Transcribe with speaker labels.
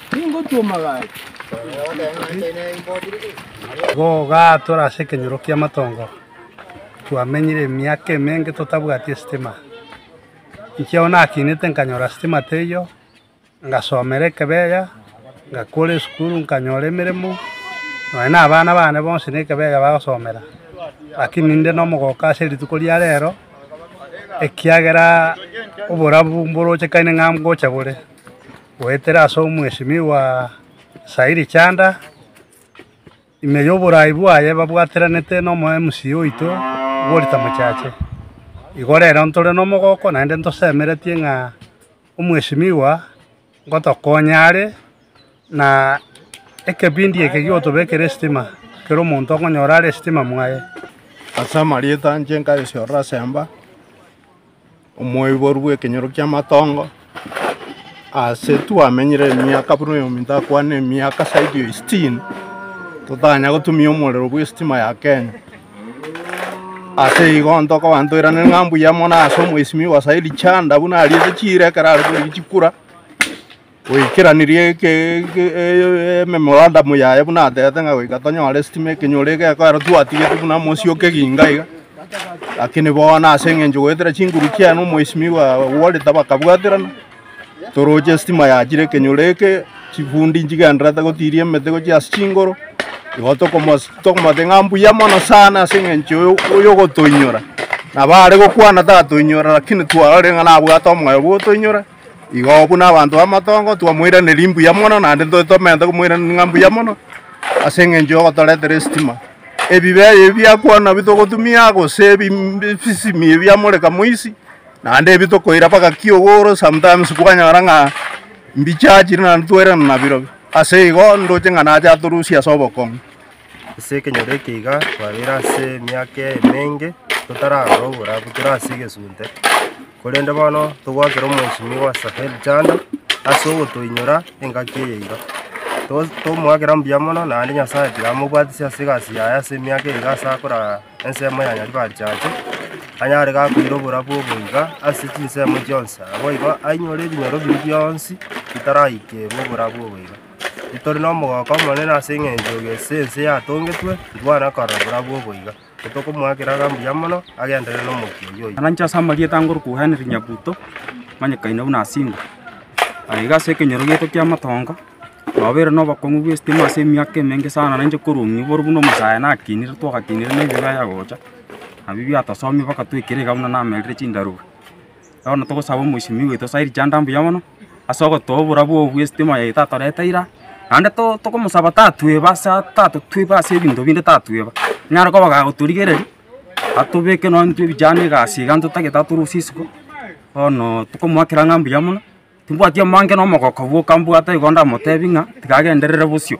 Speaker 1: Tingotuoma gaki. Gogaa tore ase ekenyoro ki'amatongo, twamenyire emiaka emenge totabwati esitima. Inche ao nakinete nkanyora sitima teiyo, ngasomera Ekebeya, ngakora esukuru nkanyora emeremo, nonya na abana bane bonsi na Ekebeya bagosomera. Lakini inde nomogoka ase rituko ria rero, ekiagera oborabu mboroche kaine ng'a ngocha bore. Goetera ase omwesimigwa Sairi Chanda, ime y'oborai bwaye babwatiranete nomo MC oito Walter Mochache. Igo rero ntore nomogoko naende ntosemeretie ng'a omwesimigwa ngotokonya are na ekebindi eke gigotobekera esitima, kera omonto okonyora are esitima mwaye. Ase
Speaker 2: amarieta anche nkayesorora Semba. omoiboru bw'ekenyoro ki'amatongo, aase twamenyire emiaka buna oyominto ndakwane emiaka zaidi ya sitini, totanya gotumia omorero bw'esitima ya Kenya. Ase igo ntokoba ntoirane ng'a mbuya mono ase omwesimigwa Saidi Chanda buna ariete chiira ekero are korigi chikura. Goikeranirie ememorandum yaye buna atete ng'a goika tonyore sitima ekenyoro egekora ero twatigete buna mosie o keginga iga. Lakini bono ase eng'encho goetera chinguru chiane omwesimigwa Walter bakabwaterana toroche sitima yachire ekenyoro eke chifundi nchigendererete gotiria emete gochia ase chingoro igo tokomos tokomote ng'a mbuya mono sana ase eng'encho yo oyogotoinyora. Nabo are gokwana tatoinyora lakini twarorire ng'a nabwate omoyo bw'otoinyora. Igo buna abanto b'amatongo twamoiraneria mbuya mono, naende ntoo tomerete komoiraneria ng'a mbuya mono, ase eng'encho yogotoretera esitima. Ebibe ebi ebi biakwana nabio togotumia, gose ebi ebisisimi ebi biamoreka moisi, naende ebi tokoira mpaka kiogoro, sometimes kwanyora ng'a mbichachire naende twairana nabirobio. Ase igo, ndoche ng'a nache atorusie ase obokong'u. Ase
Speaker 3: ekenyoro eke iga, twabeire ase emiaka emenge, totaragora oborabu, tore ase egesunte. Korende bono togwakera omwesimigwa Asahel chanda ase ogotoinyora engaki eye iga. Tomoakera mbuya mono, naende Nyasae tiga amobwatisie ase egasi yaye ase emiaka eye iga ase akora ensemo ya Nyaribari chache, anyare iga koira oborabu obo iga ase chinsemo chionsi, naboigo ainyore ebinyoro biria bionsi bitaraikeirwe oborabu obo iga. Ntori nomogooko omonene ase eng'encho ase ense yatongetwe, titwana korora borabu obo iga. Tokomoakera iga mbuya mono agenderere nomokia oyio oye. Naranche ase amarieta angorokwo
Speaker 4: Henry Nyabuto, omanyekaine buna Simba. Aye iga ase ekenyoro giaito ki'amatongo, nobeire nobokong'u bw'esitima ase emiaka emenge sana nainche korwa omwiboro buna omosae nakinire twagakinire na ebibe ayagocha, nabio biatosomia mpaka twaikire iga buna namerire chindarogo. Bono togosaba omoisimia oito saa erichanda mbuya mono ase ogotoa oborabu obo bw'esete moyo eye tatoreta ira, naende to togomosaba tatueba ase tatueba ase ebinto binde tatueba, naro koba gagotorigereria atobeke nonya intwe vijana egasi iga ntotagete atorusie isiko, bono tokomoakera ng'a mbuya mono, timbwati omonge na omogoko bwoka mbwate igo ndamotebi ng'a tiga agenderere bosio.